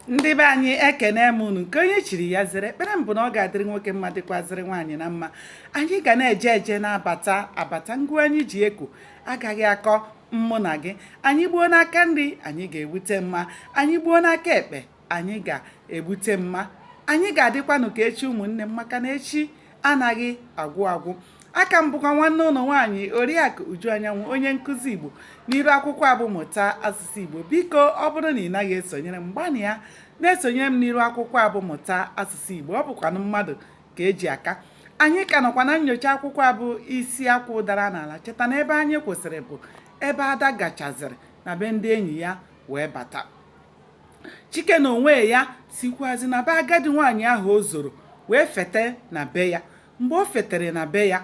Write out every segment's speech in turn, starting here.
ndị be anyị ekene m unu nke onye chiri ya zere ekpere m bụ na ọ ga-adịrị nwoke mma dịkwazịrị nwaanyị na mma anyị ga na-eje eje na-abata abata ngụ anyị ji eko agaghị akọ mmụ na gị anyị gbuo n'aka nri anyị ga-egbute mma anyị gbuo n'aka ekpe anyị ga-egbute mma anyị ga-adịkwanụ ka echi ụmụnne m maka na echi anaghị agwụ agwụ aka m bụkwa nwanne unu nwaanyị oriakụ uju anyanwụ onye nkụzi igbo n'iru akwụkwọ a bụ mụta asụsụ igbo biko ọ bụrụ na ị naghị esonyere m gbanịa na-esonyere m n'iru akwụkwọ a bụ mụta asụsụ igbo ọ bụkwanụ mmadụ ka e ji aka anyị ka nọkwa na nnyocha akwụkwọ a bụ isi akwụ dara n'ala cheta na ebe anyị kwụsịrị bụ ebe ada gachaziri na be ndị enyi ya wee bata chike na onwe ya sikwazi na be agadi nwaanyị ahụ o zoro wee fete na be ya mgbe o fetere na be ya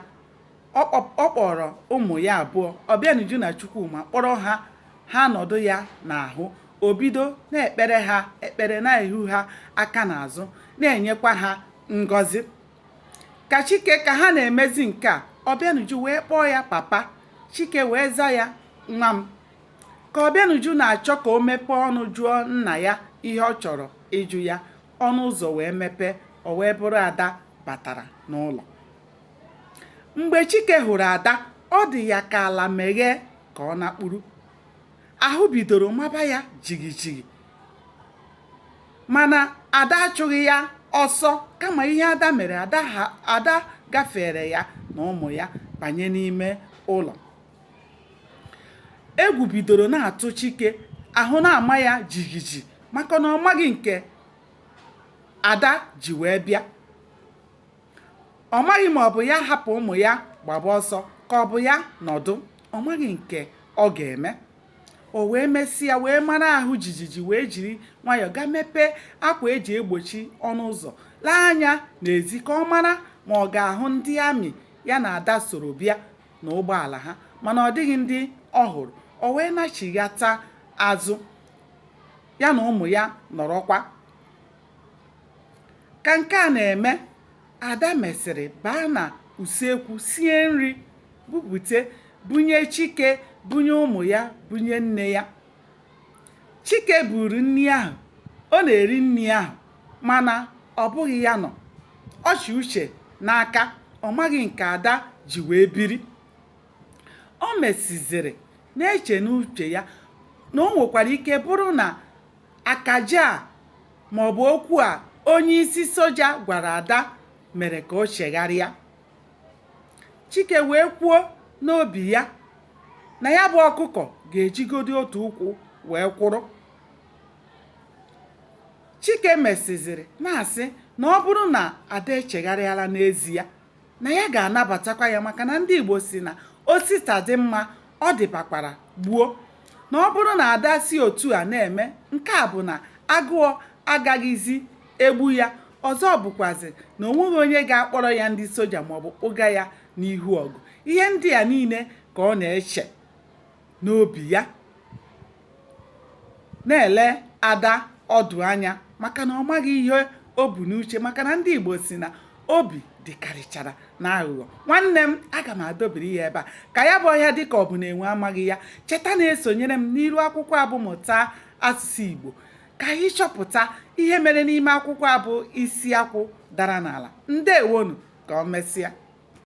ọ kpọ- ọ kpọrọ ụmụ ya abụọ ọbịanuju na chukwuma kpọrọ ha ha nọdụ ya n'ahụ o bido na-ekpere ha ekpere na-ehu ha aka n'azụ na-enyekwa ha ngọzi ka chike ka ha na-emezi nke a ọbịanuju wee kpọọ ya papa chike wee za ya nwa m Ka Ọbịanuju na-achọ ka o mepee ọnụ jụọ nna ya ihe ọ chọrọ ịjụ ya, ọnụ ụzọ wee mepee, o wee bụrụ Ada batara n'ụlọ. Mgbe Chike hụrụ Ada, ọ dị ya ka ala meghee ka ọ nakpuru. Ahụ bidoro maba ya jigijigi. Mana Ada achụghị ya ọsọ kama ihe Ada mere, Ada gafere ya na ụmụ ya banye n'ime ụlọ. Egwu bidoro na-atụ Chike, ahụ na-ama ya jijiji maka na ọ maghị nke Ada ji wee bịa. Ọ maghị ma ọ bụ ya hapụ ụmụ ya gbaba ọsọ ka ọ bụ ya nọdụ. Ọ maghị nke ọ ga-eme. O wee mesịa wee mara ahụ jijiji wee jiri nwayọọ gaa mepee akwa e ji egbochi ọnụ ụzọ lee anya n'ezi ka ọ mara ma ọ ga-ahụ ndị amị ya na Ada soro bịa. na ụgbọala ha mana ọ dịghị ndị ọ hụrụ o wee nachighata azụ ya na ụmụ ya nọrọkwa ka nke a na-eme ada mesịrị baa na usekwu sie nri bupute bunye chike bunye ụmụ ya bunye nne ya Chike buuru nri ahụ, ọ na-eri nri ahụ mana ọ bụghị ya nọ. Ọ chị uche n'aka, ọ maghị nke Ada ji wee biri. O mesịzịrị na-eche n'uche ya na o nwekwara ike bụrụ na akaje a maọbụ okwu a onyeisi soja gwara Ada mere ka o chegharịa. Chike wee kwuo n'obi ya na ya bụ ọkụkọ ga-ejigodi otu ụkwụ wee kwụrụ. Chike mesịziri na-asị na ọ bụrụ na Ada echegharịala n'ezie na ya ga-anabatakwa ya maka na ndị Igbo si na o si taa dị mma ọ dịbakwara gboo na ọ bụrụ na Ada si otu a na-eme nke a bụ na agụọ agaghịzi egbu ya ọzọ bụkwazị na o nweghị onye ga-akpọrọ ya ndị soja maọbụ kpụga ya n'ihu ọgụ ihe ndị a niile ka ọ na-eche n'obi ya na-ele Ada ọdụ anya maka na ọ maghị ihe o bu n'uche maka na ndị Igbo si na obi dịkarịchara n'aghụghọ nwanne m aga m adọbiri ya ebe a ka ya bụ ọhịa dịka ọ bụ na enwe amaghị ya cheta na-esonyere m n'iru akwụkwọ a bụ mụta asụsụ Igbo ka anyị chọpụta ihe mere n'ime akwụkwọ a bụ isi akwụ dara n'ala ndewonu ka ọ mesịa